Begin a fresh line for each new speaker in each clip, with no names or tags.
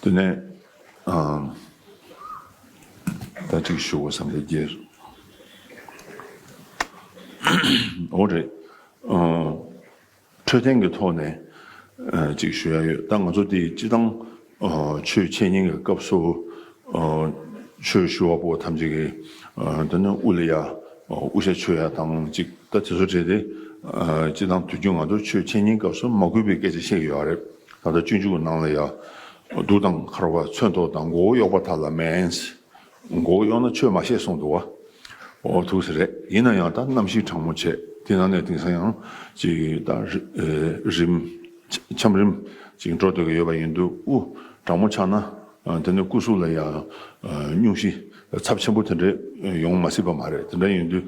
དེ་ནས་ད་ཅིག་ཤོ་གོ་བསམ་པའི་རྒྱལ། འོ་རེད། འཕྲོད་བསྟེན་གྱི་ཐོག་ནས་ཅིག་ཞུ་ཡ་ཡོད་ད་ང་ཚོ་དེ་སྤྱི་བཏང་ཆོས་འཆད་ཉན་གྱི་སྐབས་སུ་ཆོས་ཞུ་བ་པོ་ཐམས་ཅད་ཀྱི་འདི་ནི་དབུ་ལ་ཡ་དབུ་ཞྭ་ཆོས་ཡ་དང་ཅིག་ད་དེ་ཚོ་བྲལ་ཏེ་སྤྱི་བཏང་དུས་རྒྱུན་ང་ཚོ་ཆོས་འཆད་ཉན་སྐབས་སུ་མ་གུས་པའི་སྐད་ཆ་བཤད་ཀྱི་ཡོད་རེད། ད་ལྟ་སྤྱོད་འཇུག་གནང་ལ་ཡང། གདུགས་དང་འཁར་བ་མཚོན་ཐོགས་དང་མགོ་བོ་གཡོགས་པ་དག་ལ་མནན། མགོ་བོ་གཡོགས་ན་ཆོས་མ་བཤད་གསུངས་འདུག་བ། ཨོ་ཐུགས་སེ་རེད་ཡིན་ན་ཡང་ད་གནམ་གཤིས་གྲང་མོ་བྱེད་དེ་ན་ནས་དེང་སང་ཡང་ཅིག་ད་རིམ། ཆམ་རིམ། ཅིག་འགྲོ་སྡོད་ཀྱི་ཡོད་པ་ཡིན་འདུག་ཨུ། གྲང་མོ་ཆགས་ན་དེ་ནས་སྐུ་གཟུགས་ལ་ཡང། སྙུང་གཞི་ཚབས་ཆེན་པོ་དེ་འདྲའི་ཡོང་མ་སྲིད་པ་མ་རེད་དེ་འདྲ་ཡིན་དུས།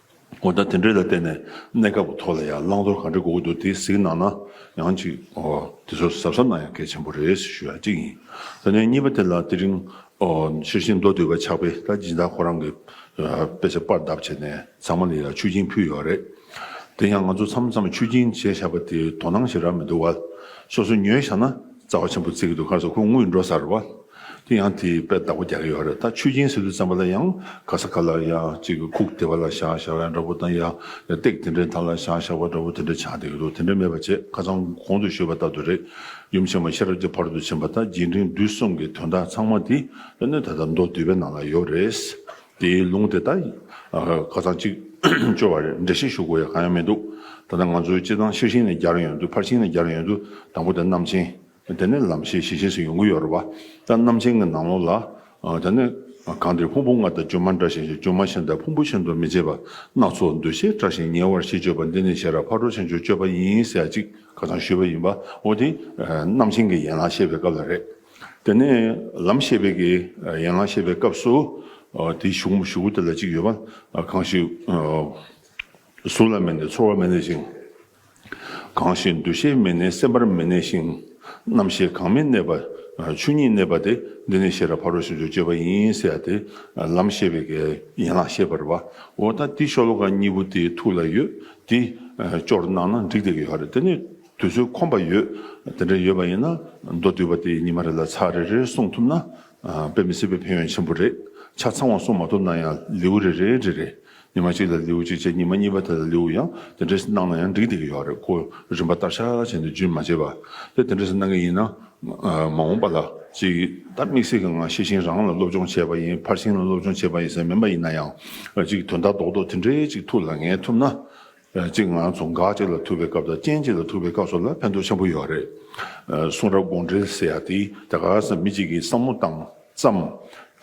འོ་ད་དེ་འདྲའི་ལ་བརྟེན་ནས་གནས་སྐབས་ཀྱི་ཐོག་ལ་ཡང་བླང་དོར་ག་འདྲ་དགོས་ཀྱི་འདུག་དེ་གཟིགས་གནང་ན་ཡང་ཅིག་ཨོ། དེ་ཚོ་གཟབ་གཟབ་གནང་ཡང་གལ་ཆེན་པོ་རེད་ཞེས་ཞུ་ཡ་གཅིག་ཡིན། ད་ནས་གཉིས་པ་དེ་ལ་དེ་རིང་ཨོ། ཤེར་ཕྱིན་མདོ་སྡེ་བའི་ཕྱག་དཔེ་ད་སྦྱིན་བདག་ཁོ་རང་གི་དཔེ་ཆ་དཔར་གདབ་བྱས་ནས་ཚང་མ་ལ་ཡང་ཆོས་སྦྱིན་ཕུལ་ཡོད་རེད། དེ་ཡང་ང་ཚོ་མཚམས་མཚམས་ཆོས་སྦྱིན་བྱས་བཞག་པ་དེའི་དོ་སྣང་ཞིག་རག་མི་འདུག་བ། སོ་སོ་ཉོས་བཞག་ན་རྩ་བ་ཆེན་པོ་བརྩི་གི་འདུག་ཁར་སོ་ཁོ་དངུལ་འགྲོ་སར་བ། དེ་ཡང་དེའི་དཔེར་བདག་པོ་རྒྱག་གི་ཡོད་རེད་ད་ཆོས་སྦྱིན་ཟེར་དུས་བརྩམས་པ་ལ་ཡང་ག་ས་ག་ལ་ཡ་གཅིག་ཁུག་དེ་བ་ལ་བཞག་བཞག་བ་ཡ་འདྲ་པོ་དང་ཡ་སྟེགས་དེ་འདྲའི་ཐང་ལ་བཞག་བཞག་བ་འདྲ་པོ་དེ་འདྲ་ཆགས་བསྡད་ཀྱི་འདུག་དེ་འདྲ་མེད་པ་བྱས་ཁ་ཚང་གོང་དུ་ཤོད་པ་ལྟ་དུ་རེད་ཡུམ་ཆེན་མོ་ཤེས་རབ་ཀྱི་བར་དུ་ཕྱིན་པ་དང་རྗེས་འབྲིང་བསྡུས་གསུམ་གྱི་དོན་དག་ཚང་མ་དེ་སྣོད་ད་ལྟ་མདོ་བསྡུས་པའི་ནང་ལ་ཡོད་རེད་དེའི་ལུང་དེ་དག་ཁ་ཚང་གཅིག་བཅོས་བ་རེད་འགྲེལ་བཤད་ཞུ་དགོས་ཡ་གང་ཡང་མི་འདུག་ད་ལྟ་ང་ཚོའི་སྤྱི་བཏང་ཤེར་ཕྱིན་ནས་རྒྱ་རུ་ཡོང་དུས་ཕར་ཕྱིན་ནས་རྒྱ་རུ་ཡོང་དུས་དང་པོ་དེ་རྣམ་མཁྱེན། དེ་ནས་ལམ་ཤེས་ཤེས་བཞིན་སུ་ཡོང་གི་ཡོད་རེད་བ། ད་རྣམ་མཁྱེན་གྱི་ནང་ལོགས་ལ། ད་ནི། གང་འདིར་ཕུང་པོ་ལྔ་དང་སྒྱུ་མ་འདྲ་ཞིང་སྒྱུ་མ་གཞན་དང་ཕུང་པོ་གཞན་དུ་མི་བྱེད་པ། སྣ་ཚོགས་འདུ་བྱེད་བཀྲ་ཞིང་ཉེ་བར་ཤེས་སྤྱོད་པ་འདི་ནི་ཤེས་རབ་ཕར་འགྲོ་ཕྱིན་སྦྱོར་སྤྱོད་པ་ཡིན་ཟེར་ཡ་གཅིག་ཁ་ཚང་ཞུས་པ་ཡིན་པ། འོ་དེ། རྣམ་མཁྱེན་གྱི་ཡན་ལག་བཤད་པའི་སྐབས་ལ་རེད། དེ་ནས། ལམ་ཤེས་པའི་གི་ཡན་ལག་བཤད་པའི་སྐབས་སུ། དེའི་གཞུང་མ་ཞུ་གུ་དེ་ལ་གཅིག་ཡོད་པ། གང་ཞིག། གཟུགས་ལ་མེད་ནས་ཚོར་བ་མེད་ནས་ཞིང། གང་ཞིག་འདུ་ཤེས་མི་གནས་སེམས་པར་མི་གནས་ཤིང། རྣམ་ཤེས་གང་མི་གནས་པ། ཆོས་ཉིད་གནས་པ་དེ་འདི་ནི་ཤེས་རབ་ཕ་རོལ་ཕྱིན་དྲུག་སྤྱོད་པ་ཡིན་ཟེར་ཏེ། ལམ་ཤེས་པའི་ཡན་ལག་ཤེས་པར་བའོ། ད་འདི་ཤོ་ལོ་ཀ་གཉིས་པོ་དེའི་ཐུགས་ལ་ཡོད་དེ། སྤྱོར་གནང་ན་འགྲིག་སྟེ་ཡོད་རེད་དེ་ནི་དུས་ཚོད་ཁོམ་པ་ཡོད། དེ་འདྲ་ཡོད་པ་ཡིན་ན་མདོ་བསྡུས་པ་དེ་ཉི་མ་རེ་ལ་ཚར་རེ་རེ་གསུངས་ཐུབ་ན། དཔེ་མི་སྲིད་པའི་ཕན་ཡོན་ཆེན་པོ་རེད། ཆ་ཚང་བ་གསུངས་མ་ཐུབ་ན་ཡང་ལེའུ་རེ་རེའི་རེ་རེ། ཉི་མ་གཅིག་ལ་ལེའུ་གཅིག་བཅས་ཉི་མ་གཉིས་པ་དེ་ལ་ལེའུ་ཡང་དེ་འདྲས་སུ་གནང་ན་ཡང་འགྲིག་སྡད་ཀྱི་ཡོད་རེད་ཀོ་རིམ་པ་ལྟར་ཤ་ཤ་བྱས་ནས་རྗུན་མ་བྱས་པ་དེ་དེ་འདྲས་སུ་གནང་གི་ཡིན་ན་མ་འོངས་པ་ལ་ཅིག་ད་དམིགས་བསལ་གྱི་ངང་ཤེས་ཤིང་རང་ལ་སློབ་སྦྱོང་བྱས་པ་ཡིན་ཕར་ཕྱིན་ལ་སློབ་སྦྱོང་བྱས་པ་ཡིན་ཟེར་མིན་པ་ཡིན་ན་ཡང་ཅིག་དོན་དག་རྡོག་རྡོག་དེ་འདྲས་ཅིག་ཐུགས་ལ་ངེས་ཐུབ་ན་གཅིག་ང་ཚོ་འགག་གཅིག་ལ་ཐུག་པའི་སྐབས་དང་རྐྱེན་གཅིག་ལ་ཐུག་པའི་སྐབས་སོགས་ལ་ཕན་ཐོགས་ཆེན་པོ་ཡོད་རེད། གསུང་རབ་དགོངས་འགྲེལ་ཟེར་ཡག་དེ་ད་ག་ས་མི་གཅིག་གིས་བསམ་བློ་བཏང་བཙམ།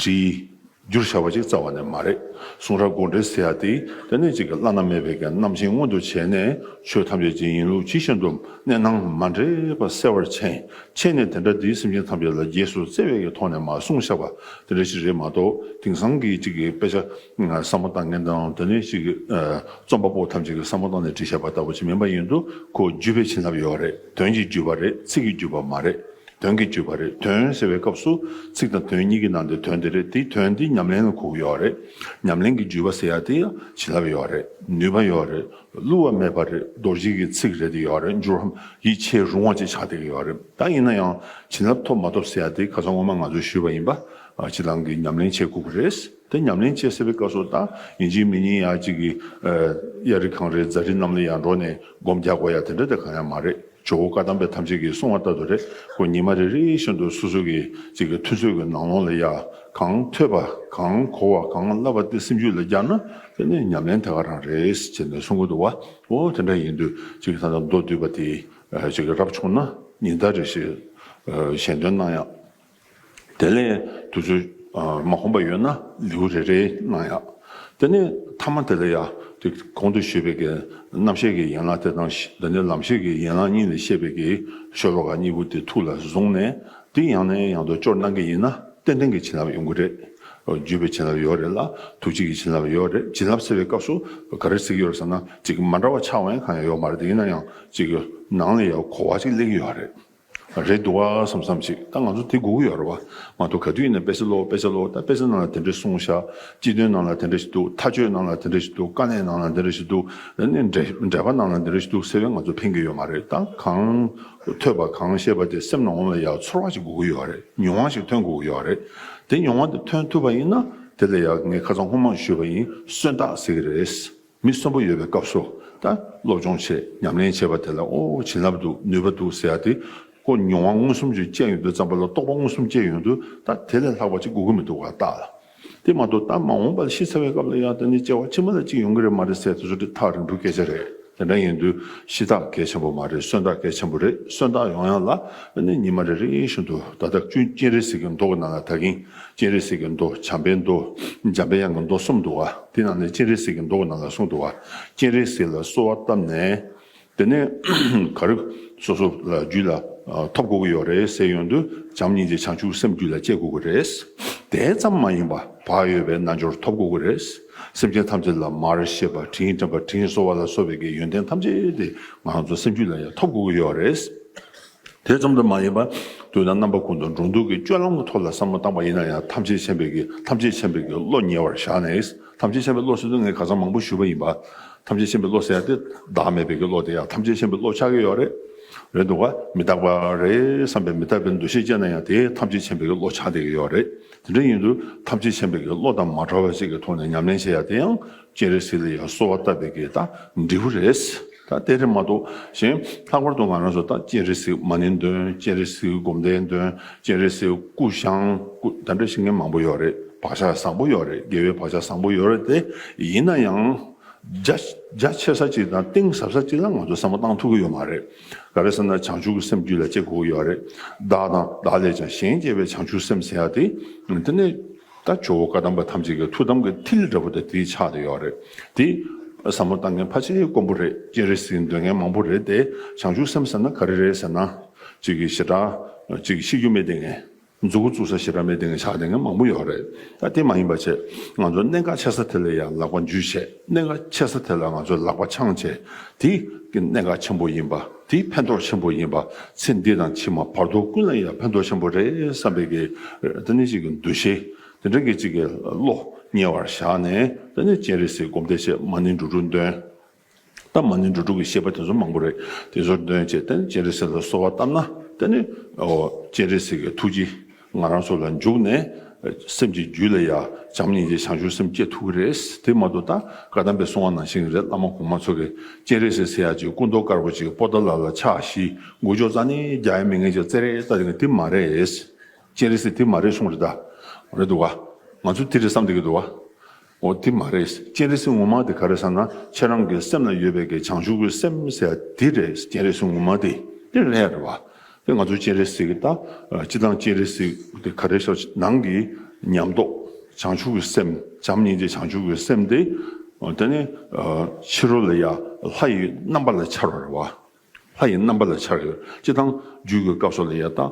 བྲིས། བསྒྱུར་བྱས་པ་ཅིག་རྩ་བ་ནས་མ་རེད། གསུང་རབ་དགོངས་འགྲེལ་ཟེར་ཡག་དེ་དེ་ནས་གཅིག་གི་བླ་ན་མེད་པའི་གན་རྣམ་བཞིན་མངོན་དུ་བྱས་ནས་ཆོས་ཐམས་ཅད་ཀྱི་ཡིན་ལུགས་ཇི་བཞིན་དུ་གནས་སྣང་མ་འདྲེས་པ་གསལ་བར་མཆན་ཕྱེས་ནས་དེ་འདྲ་དེའི་སེམས་ཅན་ཐམས་ཅད་ལ་རྗེས་སུ་བརྩེ་བས་ཀྱི་ཐོག་ནས་མ་གསུངས་ཤག་པ་དེ་འདྲ་ཞིག་རེད་མ་གཏོགས་དེང་སང་གི་གཅིག་གི་དཔེ་ཆ་བསམ་བློ་བཏང་མཁན་དང་དེ་ནས་གཅིག་རྩོམ་པ་པོ་ཐམས་ཅད་ཀྱི་བསམ་བློ་བཏང་ནས་བྲིས་བཞག་པ་ལྟ་བུ་ཅིག་མིན་པ་ཡིན་འདུག་གོ་བརྒྱུད་པའི་བྱིན་རླབས་ཡོད་རེད་དོན་གྱིས་བརྒྱུད་པ་རེད་ཚིག་གིས་བརྒྱུད་པ་མ་རེད་དོན་གྱིས་བརྒྱུད་པ་རེད་དོན་ཟེར་བའི་སྐབས་སུ་ཚིག་དང་དོན་གཉིས་ཀྱི་ནང་དུ་དོན་དེ་རེད་དེ་དོན་དེ་ཉམས་ལེན་ལ་གོ་གི་ཡོད་རེད་ཉམས་ལེན་གྱི་བརྒྱུད་པ་ཟེར་ཡག་དེ་ཡང་བྱིན་རླབས་ཡོད་རེད་ནུས་པ་ཡོད་རེད་བསླུ་བ་མེད་པ་རེད་རྡོ་རྗེ་གི་ཚིག་རེད་དེ་ཡོད་རེད་འགྱུར་བའམ་ཡིད་ཆེས་རུང་བ་བཅས་ཆགས་བསྡད་ཀྱི་ཡོད་རེད་ད་ཡིན་ན་ཡང་བྱིན་རླབས་ཐོབ་མ་ཐོབ་ཟེར་ཡག་དེ་ག་ཚོད་ངོ་མ་ང་ཚོས་ཞུས་པ་ཡིན་པ་གཅིག་ལང་གིས་ཉམས་ལེན་བྱེད་དགོས་ཀྱི་རེད། དེ་ཉམས་ལེན་བཅས་སེལ་བའི་སྐབས་སུ་དང་ཡིན་གཅིག་མིན་གཉིས་ཡང་གཅིག་གིས། གཡའ་རི་གངས་རིའི་རྫ་རི་རྣམས་ལ་ཡང་འགྲོ་ནས་སྒོམ་རྒྱག་དགོས་ཡ་དེ་འདྲ་དེ་གང་ཡང་མ་རེད་ཇོ་བོ་བཀའ་གདམས་པས་ཐམས་ཅད་ཀྱིས་གསུང་བ་ལྟ་དུ་རེ་སྐོར་ཉི་མ་རེ་རེའི་བཞིན་དུ་སོ་སོ་གིས་གཅིག་གི་ཐུན་ཚོད་ཀྱི་ནང་ལོང་ལ་ཡ་གང་ཐོས་པ་གང་གོ་བ་གང་བསླབ་པ་དེ་སེམས་རྒྱུད་ལ་བསྐྱར་ན་དེ་ནི་ཉམས་ལེན་དེ་ག་རང་རེད་ཅེས་ནས་གསུང་གི་འདུག་བ་འོ་དེ་འདྲ་ཡིན་དུས་གཅིག་ད་ལྟ་མདོ་བསྡུས་པ་དེ་གཅིག་རབ་བྱུང་ན་ཉིན་ལྟར་རེ་ཞིག་གཞན་དོན་གནང་ཡག། དེ་ལས་དུ་ཚོད་མ་གོམས་པ་ཡོད་ན་ལེའུ་རེ་རེའི་ནང་ཡང། དེ་ནས་ཐ་མ་དེ་ལ་ཡང་དེ་གོང་དུ་བཤད་པའི་རྣམ་ཤེས་ཀྱི་ཡན་ལག་དེ་དང་འདི་ནས་ལམ་ཤེས་ཀྱི་ཡན་ལག་གཉིས་ལས་བཤད་པའི་ཤོ་ལོ་ཀ་གཉིས་པོ་དེ་ཐུགས་ལ་བཟུང་ནས་དེ་ཡང་ནས་ཡང་དུ་སྤྱོར་གནང་གི་ཡིན་ན་ཏན་ཏན་གྱི་བྱིན་རླབས་ཡོང་གི་རེད། བརྒྱུད་པའི་བྱིན་རླབས་ཡོད་རེད་ལ་ཐུགས་རྗེ་ཀྱི་བྱིན་རླབས་ཡོད་རེད་བྱིན་རླབས་ཟེར་བའི་སྐབས་སུ་ག་རེ་གཟིགས་ཡོད་ཟེར་ན་ཅིག་མ་འདྲ་བ་ཕྱག་བན་གང་ཡང་ཡོད་མ་རེད་ཡིན་ན་ཡང་ཅིག་ནང་ལ་ཡང་གོ་བ་ཅིག་གླེང་གི་ཡོད་རེད། རེད་འདུག་ཨ་བསམ་བསམ་ཅིག་ད་ང་ཚོ་དེ་སྒུག་གི་ཡོད་རེད་བ་མ་གཏོགས་ག་དུས་ཡིན་ན་དཔེ་ཆ་ཀློག་དཔེ་ཆ་ཀློག་ད་དཔེ་ཆ་ནང་ལ་དེ་འདྲ་གསུངས་བཞག་སྤྱི་དོན་ནང་ལ་དེ་འདྲ་ཞིག་འདུག་མཐའ་དཔྱོད་ནང་ལ་དེ་འདྲ་ཞིག་འདུག་དཀའ་གནད་ནང་ལ་དེ་འདྲ་ཞིག་འདུག་ནས་འགྲེལ་པ་ནང་ལ་དེ་འདྲ་ཞིག་འདུག་ཟེར་བས་ང་ཚོ་ཕན་གྱི་ཡོད་མ་རེད་ད་གང་ཐོས་པ་གང་ཤེས་པ་དེ་སེམས་ནང་ལ་ཡག་ཚོར་བ་ཞིག་སྒུག་གི་ཡོད་རེད་མྱོང་བ་ཞིག་ཐོན་དགོས་ཀྱི་ཡོད་རེད་དེ་མྱོང་བ་དེ་ཐོན་ཐུབ་པ་ཡིན་ན་དེ་ལ་ཡག་ངས་ཁ་ཚང་ཧུར་མང་ཞུས་པ་ཡིན་གསོན་རྟགས་ཟེར་གྱི་རེད། མི་གསོན་པོ་ཡོད་པའི་སྐབས་སུ་ད་སློབ་སྦྱོང་ཆེད་ཉམས་ལེན་བྱེད་པ་དེ་ལ་ཨོ་བྱིན་རླབས་འདུག་ནུས་པ་འདུག་ཟེར་ཏེ་ཀོ་མྱོང་བ་མངོན་སུམ་ཅིག་སྤྱད་ཡོང་དུས་བརྩམས་པ་ལ་རྟོགས་པ་མངོན་སུམ་སྐྱེས་ཡོང་དུས་ད་དེ་ལས་ལྷག་པ་ཅིག་དགོས་ཀྱི་མི་འདུག་ག་ལྟ་ལ། དེ་མ་གཏོགས་ད་མ་འོངས་པ་ལ་ཤི་ཚར་བའི་སྐབས་ལ་ཡང་ད་ནི་སྐྱེ་བ་ཕྱི་མ་ལ་ཅིག་ཡོང་གི་རེད་མ་རེད་ཟེར་དུས་འདི་ཐག་རིང་པོའི་སྐད་ཆ་རེད་དེ་འདྲ་ཡིན་དུས་ཤི་ཐག་གལ་ཆེན་པོ་མ་རེད་གསོན་ཐག་གལ་ཆེན་པོ་རེད་གསོན་ཐག་ཡོང་ཡང་ལ་ནི་ཉི་མ་རེ་རེ་བཞིན་དུ་ད་ད་ཀྱུན་རྐྱེན་རེ་ཟིག་གིས་འདོགས་ཀྱི་ན་ལ་ད་གིན་སྤྱན་རས་གཟིགས་ཀྱི་མདོ་བྱམས་པའི་མདོ། འཇམ་པའི་དབྱངས་ཀྱི་མདོ་གསུམ་འདུ་བ། དེ་རྣམས་ནི་སྤྱན་རས་གཟིགས་ཀྱི་མདོ་གི་ནང་ལ་གསུངས་འདུ་བ། སྤྱན་རས་གཟིགས་ལ་གསོལ་བ་བཏབ་ནས། དེ་ནས་ག་རེ་སོ་སོ་ལ་རྒྱུད་ལ་ཐོབ་དགོས་ཀྱི་ཡོད་རེད་ཟེར་ཡོང་དུས་བྱམས་སྙིང་རྗེ་བྱང་ཆུབ་སེམས་རྒྱུད་ལ་སྐྱེ་དགོས་ཀྱི་རེད། དེ་ཙམ་མ་ཡིན་པར་བག་ཡོད་པའི་རྣལ་འབྱོར་ཐོབ་དགོས་ཀྱི་རེད། སེམས་ཅན་ཐམས་ཅད་ལ་མར་ཤེས་པ་དྲིན་དྲན་པ་དྲིན་གཟོ་བ་ལ་གཟོ་བའི་གི་ཡོན་ཏན་ཐམས་ཅད་དེ་ང་ཚོ་སེམས་རྒྱུད་ལ་ཡང་ཐོབ་དགོས་ཀྱི་ཡོད་རེད། དེ་ཙམ་དུ་མ་ཡིན་པར་དུས་ན་རྣམ་པ་ཀུན་ཏུ་འགྲོ་འདུག་གི་སྤྱོད་ལམ་གྱི་ཐོག་ལ་བསམ་བློ་བཏང་པ་ཡིན་ན་ཡང་ཐམས་ཅད་མཁྱེན་པའི་གི་ཐམས་ཅད་མཁྱེན་པའི་གི་བློ་ཉེ་བར་བཞག་ནས་ཐམས་ཅད་མཁྱེན་པའི་བློ་ཟེར་དུས་ངས་ག་ཚང་མང་པོ་ཞུས་པ་ཡིན་པ། ཐམས་ཅད་མཁྱེན་པའི་བློ་ཟེར་ཏེ་བདག་མེད་པའི་གི་བློ་དེ་ཡང་ཐམས་ཅད་མཁྱེན་པའི་བློ་ཆགས་ཀྱི་ཡོད་རེད། རེད་འདུག་ག་མི་རྟག་པ་རེད་བསམ་པའི་མི་རྟག་པའི་འདུ་ཤེས་སྐྱེས་ན་ཡང་དེ་ཐམས་ཅད་མཁྱེན་པའི་གི་བློ་ཆགས་བསྡད་ཀྱི་ཡོད་རེད། དེ་འདྲ་ཡིན་དུས་ཐམས་ཅད་མཁྱེན་པའི་གི་བློ་དང་མ་བྲལ་བ་ཞིག་གི་ཐོག་ནས་ཉམས་ལེན་བྱེད་ཡ་དེ་ཡང་སྤྱན་རས་གཟིགས་ལ་ཡང་གསོལ་བ་བཏབ་པའི་གེགས་དང་འབྲས་བུ་རེད། ད་དེ་རེད་མ་གཏོགས་གཞན། ལྷག་པར་དུ་ང་རང་ཚོ་ད་སྤྱན་རས་གཟིགས་མ་ནིང་འདོན་སྤྱན་རས་གཟིགས་སྒོམ་སྡེ་འདོན་སྤྱན་རས་གཟིགས་སྐུ་བཤང་སྐུ་ད་འདྲ་བཤིག་མཁན་མང་པོ་ཡོད་རེད་བག་ཆགས་བཟང་པོ་ཡོད་རེད་དགེ་བའི་བག་ཆགས་བཟང་པོ་ཡོད་རེད་དེ་ཡིན་ན་ཡང། རྒྱ་ཆེ་ས་ཅིག་དང་གཏིང་ཟབ་ས་ཅིག་ལ་ང་ཚོ་བསམ་བློ་གཏང་ཐུབ་ཀྱི་ཡོད་མ་རེད། ག་རེ་ཟེར་ན་བྱང་ཆུབ་ཀྱི་སེམས་རྒྱུད་ལ་སྐྱེ་དགོས་ཀྱི་ཡོད་རེད། བདག་དང་བདག་ལས་ཀྱང་གཞན་སྐྱེ་བའི་བྱང་ཆུབ་སེམས་ཟེར་ཡག་དེ། དེ་ནས། ད་ཇོ་བོ་བཀའ་གདམས་པ་ཐམས་ཅད་ཀྱི་ཐུགས་དམ་གྱི་ཐིལ་འདྲ་བོ་དེ་དེའི་ཕྱག་ཏུ་ཡོད་རེད་དེ། ཟབ་མོ་ལྟ་མཁན་ཕ་ཆེའི་དཀོན་པོ་རེད་སྤྱན་རས་གཟིགས་འདོད་མཁན་མང་པོ་རེད་དེ་བྱང་ཆུབ་སེམས་ཟེར་ན་ག་རེ་རེད་ཟེར་ན། ཅིག་གིས་ཞེ་དྲག་ཅིག་གིས་ཤི་རྒྱུ་མེད་དེ་ངན། མཛུ་གུ་བཙུགས་ས་ཞེ་དྲག་མེད་དེ་ངན་ཆགས་དེ་ངན་མང་པོ་ཡོད་རེད་ད་དེ་མ་ཡིན་པ་ཆེད་ང་ཚོ་གནད་འགག་ཆེ་ས་དེ་ལ་ཡང་ལག་པ་འཇུས་བྱས་གནད་འགག་ཆེ་ས་དེ་ལ་ང་ཚོ་ལག་པ་འཆང་བྱས་དེ་གནད་འགག་ཆེན་པོ་ཡིན་པ། དེ་ཕན་ཐོགས་ཆེན་པོ་ཡིན་པ་ཚེ་འདི་དང་ཕྱི་མ་བར་དོ་ཀུན་ལ་ཡང་ཕན་ཐོགས་ཆེན་པོ་རེད་བསམ་པའི་གི་ཏི་ནི་གཅིག་གི་འདུ་ཤེས་དེ་འདྲ་གི་གཅིག་གི་བློ་ཉེ་བར་བཞག་ནས་ཏི་ནི་སྤྱན་རས་གཟིགས་སྒོམ་བཟླས་ཆེད་མ་ནི་འགྲོ་དྲུག་འདོན། ད་མ་ནི་འགྲོ་དྲུག་གི་བཤད་པ་དེ་ཚོ་མང་པོ་རེད་དེ་ཚོ་འདོན་བྱས་ཏི་ནི་སྤྱན་རས་གཟིགས་ལ་གསོལ་བ་བཏབ་ན་ཏི་ནི་སྤྱན་རས་གཟིགས་ཀྱི་ཐུགས་རྗེ་ང་རང་ཚོ་ལ་འཇུག་ནས་སེམས་ཀྱི་རྒྱུད་ལ་ཡ་བྱམས་སྙིང་རྗེ་བྱང་ཆུབ་སེམས་བསྐྱེད་ཐུབ་ཀྱི་རེད། དེ་མ་ཏོག་ད་བཀའ་གདམས་པའི་གསུང་བ་ནང་བཞིན་རེད་བླ་མ་གོང་མ་ཚོ་གི་སྤྱན་རས་གཟིགས་སེ་ཡ་གཅིག་སྐུ་མདོག་དཀར་པོ་གཅིག་པོ་ཏཱ་ལ་ལ་ཕྱག་བཞི་མགོ་ཅོག་ཙག་ནི་རྒྱ་ཡ་མི་ངན་ཅིག་ཙེ་རེ་ཙག་ཅིག་ནི་དེ་མ་རེད། སྤྱན་རས་གཟིགས་དེ་མ་རེད་གསུང་རེད་ད། རེད་འདུག་ག། ང་ཚོ་དེ་རེད་བསམ་བསྡད་ཀྱི་འདུག་ག། འོ་དེ་མ་རེད་སྤྱན་རས་གཟིགས་ངོ་མ་དེ་ག་རེད་བསམ་ན་ཁྱེད་རང་གི་སེམས་ལ་ཡོད་པའི་གི་བྱང་ཆུབ་ཀྱི་སེམས་ཟེར་བ་དེ་རེད་སྤྱན་རས་གཟིགས་ངོ་མ་དེ་དེ་ལྷད་རེད་བ། དེ་ང་ཚོ་སྤྱན་རས་གཟིགས་ད་སྤྱི་དང་སྤྱན་རས་གཟིགས་དེ་ག་རེད་ཤོག་ནང་གི་ཉམས་རྟོགས་བྱང་ཆུབ་ཀྱི་སེམས་བྱམས་སྙིང་རྗེ་བྱང་ཆུབ་ཀྱི་སེམས་དེ་དེ་ནི་ཕྱི་རོལ་ལ་ཡ་ལྷ་ཡི་རྣམ་པ་ལ་འཆར་བ་རེད་བ། ལྷ་ཡི་རྣམ་པ་ལ་འཆར། སྤྱི་དང། རྒྱུད་ཀྱི་སྐབས་སོགས་ལ་
ཡང་དག།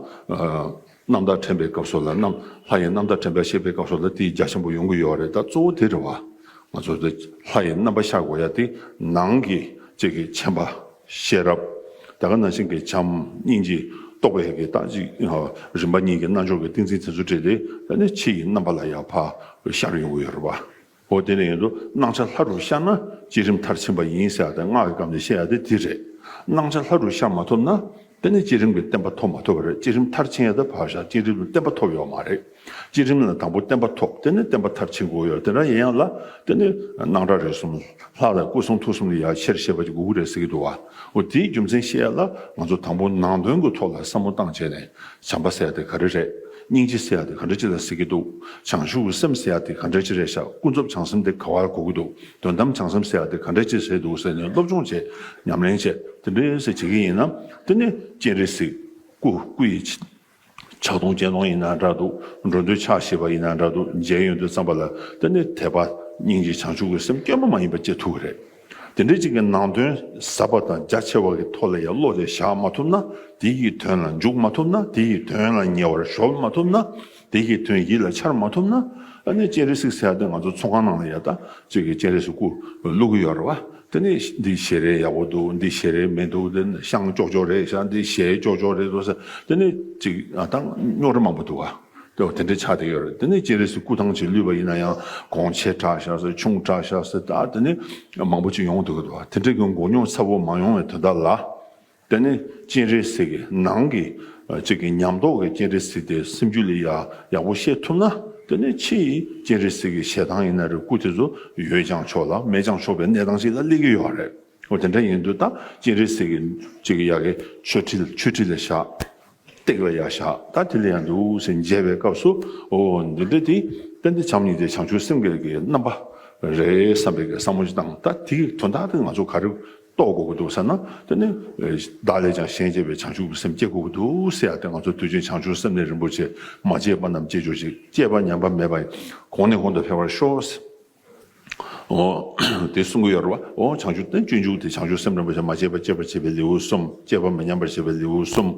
རྣམ་དག་དྲན་པའི་སྐབས་སོགས་ལ་རྣམ། ལྷ་ཡི་རྣམ་དག་དྲན་པའི་ཤེས་པའི་སྐབས་སོགས་ལ་དེའི་རྒྱ་ཆེན་པོ་ཡོང་གི་ཡོད་རེད་ད་གཙོ་བོ་དེ་རེད་བ། ང་ཚོ་ལྷ་ཡི་རྣམ་པ་ཤར་གོ་ཡ་དེ་ནང་གི་ཅིག་གི་མཆན་པ། ཤེས་རབ། དེ་ག་ནང་བཞིན་གྱི་བྱམས་སྙིང་རྗེ། རྟོགས་པའི་གི་རྟགས་གཅིག། རིམ་པ་གཉིས་ཀྱི་རྣལ་འབྱོར་གྱི་ཏིང་འཛིན་དེ་ཚོ་བྲིས་ཏེ་ད་ནི་ཕྱི་ཡི་རྣམ་པ་ལ་ཡང་བ། ཤར་ཡོང་གི་ཡོད་རེད་བ། ཨོ་དེ་ནས་ཡོད་དོ་སྣང་ཆ་ལྷ་དྲུག་ཤར་ན་བསྐྱེད་རིམ་མཐར་ཕྱིན་པ་ཡིན་ཟེར་བ་དེ་སྔགས་ཀྱི་སྐབས་ནས་བཤད་ཡ་དེ་དེ་རེད། སྣང་ཆ་ལྷ་དྲུག་ཤར་མ་ཐོབ་ན་དེ་ནི་བསྐྱེད་རིམ་གྱི་བསྟན་པ་ཐོབ་མ་ཐོབ་པ་རེད་བསྐྱེད་རིམ་མཐར་ཕྱིན་ཡ་དེ་བར་ཞག་གཅིག་རིང་དུ་བསྟན་པ་ཐོབ་ཡོད་མ་རེད། བསྐྱེད་རིམ་ལ་དང་པོ་བསྟན་པ་ཐོབ་དེ་ནས་བསྟན་པ་མཐར་ཕྱིན་དགོས་ཡོད་དེ་འདྲ་ཡིན་ཡང་ལ་དེ་ནི་སྣང་གྲགས་རེ་གསུམ་ལྷག་ལས་སྐུ་གསུང་ཐུགས་གསུམ་ལས་ཡར་ཆེར་ཤེས་པ་གཅིག་དགོས་ཀྱི་རེད་ཟེར་གྱི་འདུག་བ། དེའི་རྒྱུ་མཚན་བཤད་ཡ་ལ་ང་ཚོ་དང་པོ་ནང་དོན་གྱི་ཐོག་ལ་བསམ་བློ་བཏང་བྱས་ནས་བྱམས་པ་བསལ་དེ་ག་རེ་རེད། སྙིང་རྗེ་ཟེར་ཡག་དེ་ག་འདྲ་ཅི་ལ་ཟེར་གྱི་འདུག་བྱང་ཆུབ་ཀྱི་སེམས་ཟེར་ཡག་དེ་ག་འདྲ་ཅི་རེད་ཤག་ཀུན་རྫོབ་བྱང་སེམས་དེ་ག་བར་གོ་གི་འདུག་དོན་དམ་བྱང་སེམས་ཟེར་ཡག་དེ་ག་འདྲ་ཅི་ཟེར་འདུག་ཟེར་ནས་སློབ་སྦྱོང་བྱེད། ཉམས་ལེན་བྱེད། དེ་འདྲ་ཟེར་བྱེད་ཀྱི་ཡིན་ན། དེ་ནི་སྤྱན་རས་གཟིགས། སྐུ། སྐུ་ཡི། ཕྱག་སྟོང་སྤྱན་སྟོང་ཡིན་ན་འདྲ་འདུག་འགྲོ་འདུལ་ཕྱག་བཞི་པ་ཡིན་ན་འདྲ་འདུག་མཇལ་ཡོན་དུ་བརྩམས་པ་ལ་དེ་ནི་དད་པ། སྙིང་རྗེ་བྱང་ཆུབ་ཀྱི་སེམས་སྐྱོན་པ་མ་ཡིན་པ་བཅས་ཐུག་གི་རེད། དེ་འདྲའི་ཅིག་གི་ནང་དོན་ཟབ་པ་དང་རྒྱ་ཆེ་བ་གི་ཐོག་ལ་ཡང་བློ་རེ་བཞག་མ་ཐུབ་ན་དེ་ཡི་དོན་ལ་འཇུག་མ་ཐུབ་ན་དེ་ཡི་དོན་ལ་ཉེ་བར་གཞོལ་མ་ཐུབ་ན་དེ་ཡི་དོན་ཡིད་ལ་འཆར་མ་ཐུབ་ན་ཨ་ནི་སྤྱན་རས་གཟིགས་ཟེར་ཡག་དེ་ང་ཚོ་ཚོང་ཁང་ནང་ལ་ཡག་ད་ཅིག་གི་སྤྱན་རས་སུ་སྐུ་བླུག་གི་ཡོད་རེད་བ་དེ་ནི་འདི་ཞལ་རས་ཡག་པོ་འདུག་འདི་ཞལ་རས་མི་འདུག་འདི་ཤངས་ལྕོག་ལྕོག་རེད་ཤ་འདི་ཞལ་ལྕོག་ལྕོག་རེད་བ་ས་དེ་ནི་ཅིག་ད་རྙོག་རེ་མང་པོ་འདུག་ག། དེ་འདྲའི་ཆ་དེ་ཡོད་རེད་དེ་ནི་སྤྱན་རས་སུ་སྐུ་ཐང་ཆེ་ལུས་པ་ཡིན་ན་ཡང་གོང་ཆེ་གྲགས་ཤག་སེ་ཆུང་གྲགས་ཤག་སེ་དག་དེ་ནི་མང་པོ་ཅིག་ཡོང་འདུག་གི་འདུག་དེ་འདྲའི་གི་འགོ་ཉོག་ཚ་བོ་མ་ཡོང་བའི་དོན་དག་ལ། དེ་ནི་སྤྱན་རས་གཟིགས་ཀྱི་ནང་གི་ཅིག་གི་ཉམས་རྟོགས་ཀྱི་སྤྱན་རས་གཟིགས་དེ་སེམས་རྒྱུད་ལས་ཡག་པོ་ཤེས་ཐུབ་ན་དེ་ནི་ཕྱི་ཡི་སྤྱན་རས་གཟིགས་ཀྱི་ཞལ་ཐང་ཡིན་ན་རེད་སྐུ་དེ་ཚོ་ཡོད་ཀྱང་ཆོག་ལ་མེད་ཀྱང་ཆོག་པའི་གནས་སྟངས་ཤིག་ལ་སླེབས་ཀྱི་ཡོད་རེད། འོ་དེ་འདྲ་ཡིན་དུས་ད་སྤྱན་རས་གཟིགས་ཀྱི་ཅིག་གི་ཡ་གི་ཆོས་ཁྲིད་ཆོས་ཁྲིད་ལ་བཞག། སྟེགས་ལ་ཡ་བཞག་ད་དེ་ལ་ཡ་འདུག་ཟེར་མཇལ་བའི་སྐབས་སུ་འོ་འདི་འདྲ་དེ་དཔེ་འདི་བྱམས་ཉིད་དེ་བྱང་ཆུབ་སེམས་དགེ་ལེགས་ཀྱི་རྣམ་པ་རེད་བསམ་པའི་བསམ་བློ་ཅིག་བཏང་ད་དེ་གི་དོན་དག་དེ་ང་ཚོ་ག་རེ་རྟོགས་དགོས་ཀྱི་འདུག་ཟེར་ན་དེ་ནི་བདག་ལས་ཀྱང་གཞན་གཅེས་པའི་བྱང་ཆུབ་ཀྱི་སེམས་བསྐྱེད་དགོས་ཀྱི་འདུག་ཟེར་ཡ་དེ་ང་ཚོ་དུས་ཆེན་བྱང་ཆུབ་སེམས་ལས་རིན་པོ་ཆེ་མ་གཅེས་པ་རྣམས་གཅེས་ཅོག་ཅིག་གཅེས་པ་ཉམས་པ་མེད་པ་གོང་ནས་གོང་དུ་འཕེལ་བར་ཤོག། ཨོ། དེ་གསུམ་གོ་ཡོར་བ། ཨོ་བྱང་ཆུབ་སྟན་སྤྱོད་འཇུག་དེ་བྱང་ཆུབ་སེམས་རིན་པོ་ཆེ་མ་སྐྱེས་པ་སྐྱེད་པར་བྱེད་པའི་ལེའུ་གསུམ་སྐྱེས་པ་མི་ཉམས་པར་བྱེད་པའི་ལེའུ་གསུམ་